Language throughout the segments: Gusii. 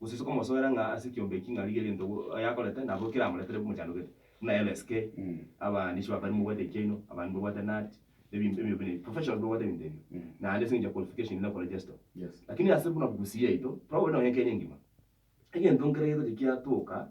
Gose ase okomosoera ng'a ase ekiombe eki ng'a rigia egento yakorete nabo keramoretere bimochandogete. Buna LSK, abande ase bapere mobwate ekiaino, abande babwate nut, ebi- ebinto buna ebi. Professional babwate ebinto ebio. Naende ase engencho ya qualification inde koregister. Lakini ase buna Gusii yaito, probably nonye Kenya engima, egento nkere gegocha kiatoka.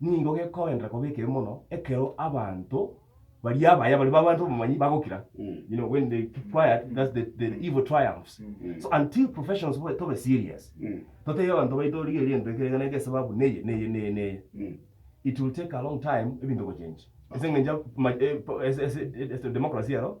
nigo gekoenderera koba ekebe mono ekero abanto baria abaya baria babanto abamanyi bagokira you know when they keep quiet that's the, the evil triumphs so until professionals bobe tobe serious totebie abanto baito rigereria egento eke egene eke esababu neye neye neye neye it will take a long time ebinto gochenja ase eng'encho ma- eh, po- ase- ase- ase democracy ero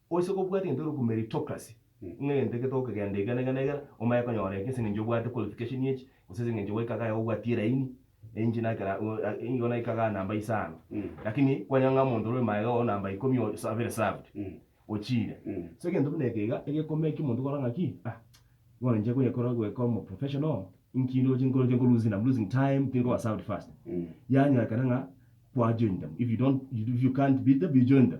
Oise kobwata egento egeruku meritocracy, ng'a egento eke togokegenda iga na iga na iga, omanye konyora eke ase eng'encho obwate qualification echi, gose ase eng'encho gwaika kaye obwatie eraini, enche nakera igo naika kaye namba isano. Lakini kwanyora ng'a omonto ore magega oo namba ikomi oo sa very served, ochiire. So egento buna eke iga egeko make omonto okora ng'a ki ah bono inche koyekora goika omo professional, inki ndoche nkore inche nko lose time, am losing time, tindi koba served fast. Yanyorekana ng'a kwa join them, if you don't if you can't beat them, you join them.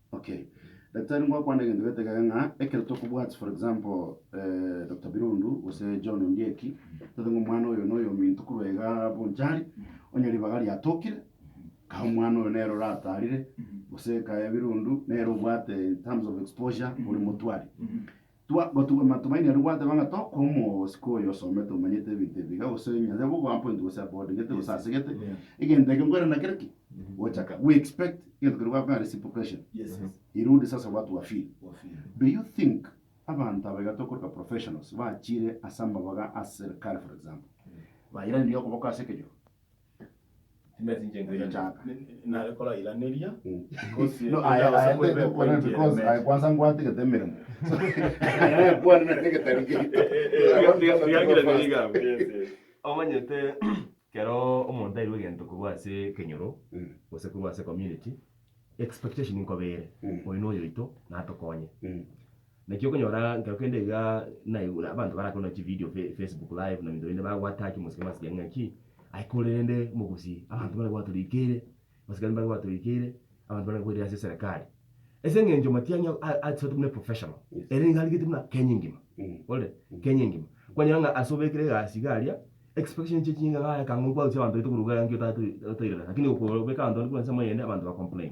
Okay. Daktari ngwakwana egento getagega ng'a ekero tokobwat for example eh, Dr. Birundu gose John Ondieki tote ng'a omwana oyo na oyo ominto korwa iga Bonchari onye ribaga riatokire kae omwana oyo nere oratarire gose kae Birundu nere obwate in terms of exposure ore motwari Twa gotugwa matumaini aria gwateba ng'a tokoa omosiko oyo osomete omanyete ebinto ebiiga gose onye nyase koba oappoint gose aboardingete gose asegete egento eke nkwere nakere ki? Gochaka. We expect egento keria gwabeka ng'a reciprocation erude sasa what wa feel. Do you think abanto aba iga tokoroka professionals bachire ase amabaga a serikali for example bairaneria okoboko ase ekejoro? Omanyete, ekero omonto airwe egento korwa ase ekenyoro, gose korwa ase ecommunity, expectation nkoba ere, oyo noyoito, natokonye. Naki okonyora nkero kende iga naye buna abanto barakore nonya chividio fe- facebook live na ebinto binde bagoataki omosike masiya ng'a ki, aye kore rende mogusi abanto buna gwatoreikeire, abasikari mbare gwatoreikeire, abanto buna bakoirire ase eserekari. Ase eng'encho matiang'i a- a- asoete buna eprofessional, ere nigo arigete buna Kenya engima, orore? Kenya engima. Kwanyora ng'a ase obekire egasi iga aria, expectation chie chinka ng'a aye ekang'u nkwausia abanto baito korwa iga nki otato- otoirana, lakini okobeka abanto bande korwa ase emo eyende abanto ba complain.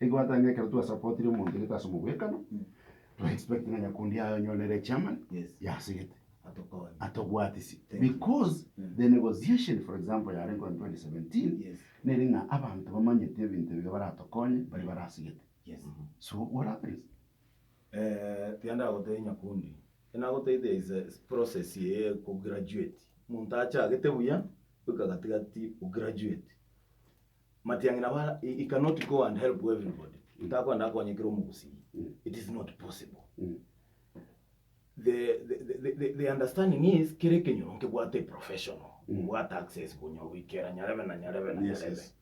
Egwatano ekero twa supportire omonto gete ase omogwekano, twa expect ng'a nyakundi yaye onye one re chairman, yase gete, atobwatisi. Because the negotiation for example yarengeo in 2017, nere ng'a abanto bamanyete ebinto ebiya baratokonye, baria bare ase gete. So what happens? Ekiya ndagotebi nyakundi, ekio nagotebi there is a process eye ya ko graduate. Omonto achagete buya, goika gati gati o graduate. Matiang'ina ba he cannot go and help everybody ntakwenda akonye kera omogusii it is not possible the, the, the, the, the, the understanding is kera ekenyoro nkebwate a professional obwate access bonyobwi kera nyarebe na nyarebe na Yes, nyarebe yes.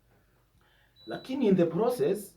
lakini in the process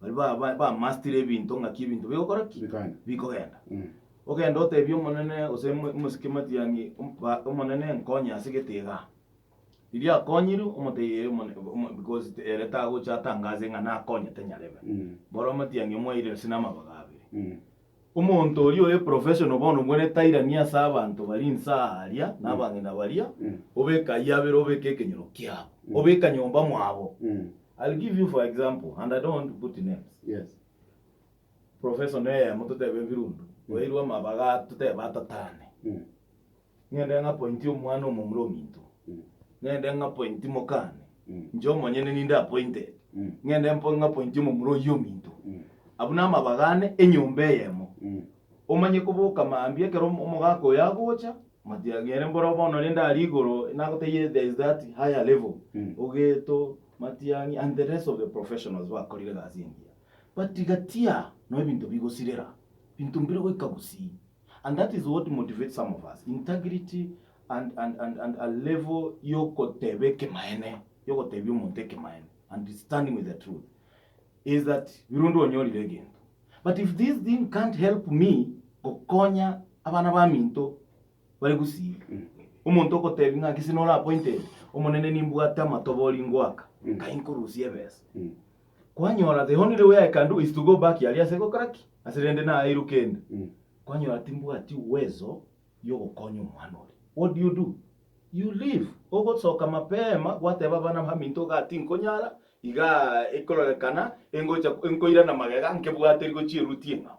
Baria ba- ba- bamastire ebinto ng'aki ebinto bigokora ki? Bikagenda. Bikogenda. Mm. Ogende otebie Omonene gose mo- mosike matiang'i, om- ba- Omonene nkonye ase egete iga. Riria akonyirwe, omotebie ee Omone- o- omo- because te- ere tagocha atangaze ng'a nakonyete nyarebe. Mm. Boro matiang'i omwaire gose namabaga abere. Mm. Omonto oria ore professional bono mwene tairania ase abanto bari inse aa aria na abang'ina baria, obeke ayio abere obeke ekenyoro kiabo, obeka nyomba mwabo. I'll give you for example and I don't want to put names. Professional eyemo totebe Ebirundu, oyairwe amabaga totebe atatane. Ng'ende ng'apointie omwana omomura ominto, ng'ende ng'apointi mokane, inche omonyene ninde apointed, ng'ende mpo- ng'apointi omomura oyio ominto. Abwo namabaga ane enyomba eyemo. Omanye koboka mambia ekero om- omogaka oyo agocha, matiagere mboro bono rende aria igoro nagotebie there is that higher level, ogeto, matiang'i and the rest of the professionals bakorire egasi engiya. But gati aa, noo ebinto bigosirera, binto mbire goika gusii. And that is what motivates some of us, integrity and, and, and, and a level yogoteba ekemaene, yogotebia omonto ekemaene and standing with the truth is that birundi onyorire egento but if this thing can't help me gokonya abana baminto bari gusii mm. omonto ogotebi ng'a gisi nora appointed omonene nimbwate amatobori ngoaka mm. kai nkorusia ebesa mm. Kwanyora tihonire we I can do is to go back aria ase gokora ki? Ase rende naeirwe kende. Kwanyora timbwati uwezo yogokonya omwana oria. What do you do? You leave. Ogosoka mapema gwateba abana baminto igaa tinkonyara, igaa ekororekana engocha enkoirana magega nkebwaterigwe chieruti eng'ao.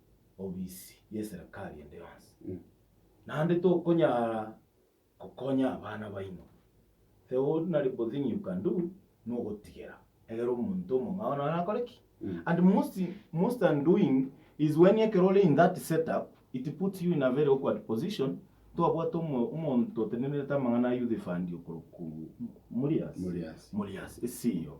obisi y'eserekari ende yonsi, naende tokonyara gokonya abana baino. The ordinary bo thing you can do nogotigera egere omonto omong'ao naro akore ki? And most, most undoing is when ekero ore in that setup, it puts you in a very awkward position, twabwate omo- omonto otenenerete amang'ana a youth fund okorokwa Mulias, Mulias. Mulias, esiyo.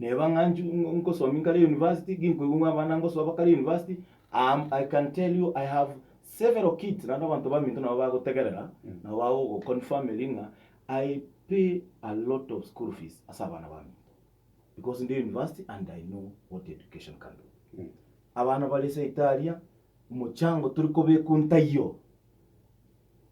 Neba ng'a nchi- nkosomia nkare university, ginkoigwa ng'a abana ngosoa bakare university, am- I can tell you I have several kids, naende abanto baminto nabo bagotegerera, nabo bagogo confirmeri ng'a I pay a lot of school fees ase abana baminto, because ndi university and I know what education can do. Abana bare seita aria, omochango tori kobekwa ntaiyo.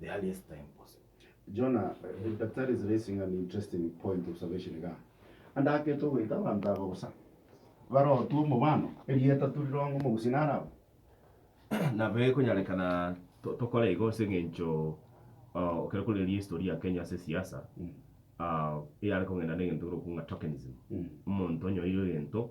the earliest time possible. Jonah, but that is raising an interesting point of observation iga. Ande ake togoita abanto aba bosa barotwe omobano, erieta torironge omogusii naro aba. Nabo ekonyarekana tokore igo ase eng'encho ekero korire history ya Kenya ase siasa eyare kong'enda negento kerokuo ng'a tokenism. Omonto onyoire egento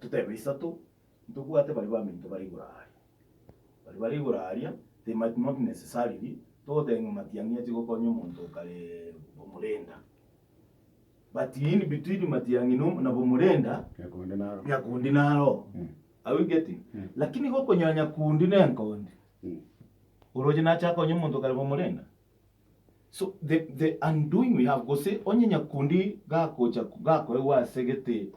Totebe isato, ntobwate baria baminto bare igoro aaria. Baria bare igoro aaria, they might not necessarily togoteba ng'a matiang'i achie gokonya omonto okare bomurenda. But in between matiang'i na na bomurenda, Nyakundi naro. nyakundi naro. Are we getting? Lakini iga okonyora nyakundi na enkondi, oroche nache akonye omonto okare bomurenda? So the, the undoing we have, gose onye nyakundi gakocha gakoegwa ase gete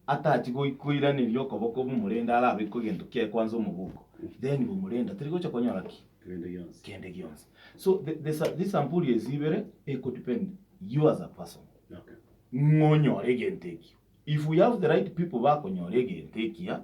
atachi goi- koiraneria okoboko bw'omorende arabekwe egento kiaye kwanza omobuko, then bw'omorende tari gocha konyora ki? Kende gionsi. kende gionsi. So the, the, sa- these sampurias ibere eko depend you as a person Okay. ng'onyore egento ekio. If we have the right people bakonyora egento ekia,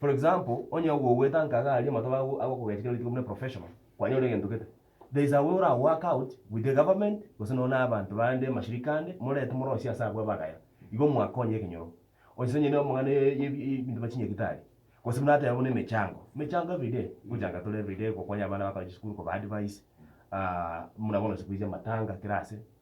For example, onye ogogwetanka iga aria amatuko ago agokogecha kero rituko buna professional, kwanyora egento gete. There is a way ora work out with the government gose nonya na abanto bande, mashirika ande, morete morosie ase abwo abagaya, igo mwakonye ekenyoro. Onye ase onye na amang'ana ya ya ebinto bia chinyagitari, gose buna ateba buna emechango, emechango everyday, gochanga tore everyday, gokonya abana bakore chisukuru, koba advice, muna bono siku hizi amatanga kera ase.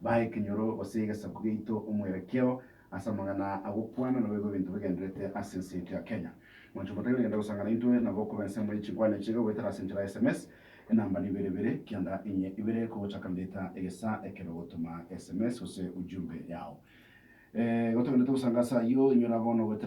Baa ekenyoro gose egesaku giaito omwerekeo ase amang'ana agokwana nabo igo ebinto bigenderete ase ense yaito ya Kenya. Mwanche omotang'ani genda gosanga naintwe nabo okoba ensemo ye chinkwana echiga goetera ase enchera ya sms enamba na ibere ibere kianda inye ibere kogochaka mbeta egesaa ekero ogotoma sms gose ujumbe yao. Igo togenderete gosanga ase ayio inyora bono goetera